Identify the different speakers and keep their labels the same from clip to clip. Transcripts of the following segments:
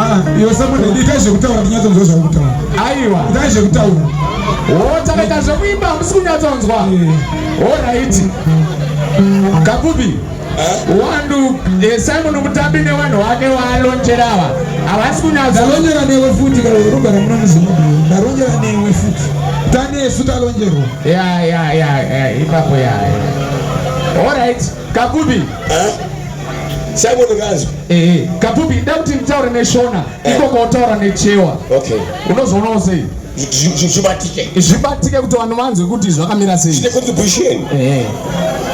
Speaker 1: Ah, iwe Samuel
Speaker 2: ndiita zvekutaura ndinyatsonzwa zvakutaura. Aiwa. Ndiita
Speaker 1: zvekutaura.
Speaker 2: Oh, takaita
Speaker 1: zvekuimba hamusi kunyatsonzwa. Eh. All right. Kapupi. Eh? Wandu eh, Simon Mutambi nevanhu wake waalonjera ava. Havasi kunyatsa. Ndalonjera newe futi
Speaker 2: kana unogara muno muZimbabwe. Ndalonjera newe futi. Tane yesu talonjerwa. Yeah, yeah, yeah,
Speaker 1: yeah. Ipapo yeah. All right. Kakubi. Eh?
Speaker 3: Simon Gazo. Eh, eh. Kakubi nda
Speaker 1: kuti mtaure ne Shona, eh. iko ko taura ne Chewa. Okay. Unozoona usei? Zvibatike. Zvibatike kuti vanhu vanzwe kuti zvakamira sei. Chine contribution.
Speaker 3: Eh.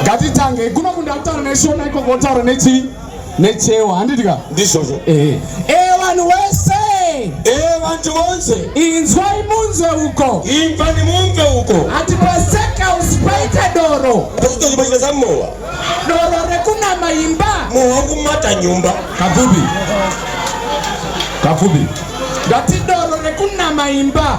Speaker 1: Gatitange kuno kunda taura ne Shona iko ko taura ne Chewa. necheo handiti ka ndizvozvo ehe
Speaker 3: ehe vanhu
Speaker 1: wese ehe vantu
Speaker 3: vonse inzwai munzwe
Speaker 1: uko imvani mumve
Speaker 3: uko ati pasekausi
Speaker 1: paita doro pachitochi pachita samowa
Speaker 3: doro
Speaker 1: rekunama imba mowa kumata
Speaker 3: nyumba kapfupi
Speaker 1: kapfupi ndati doro rekunama imba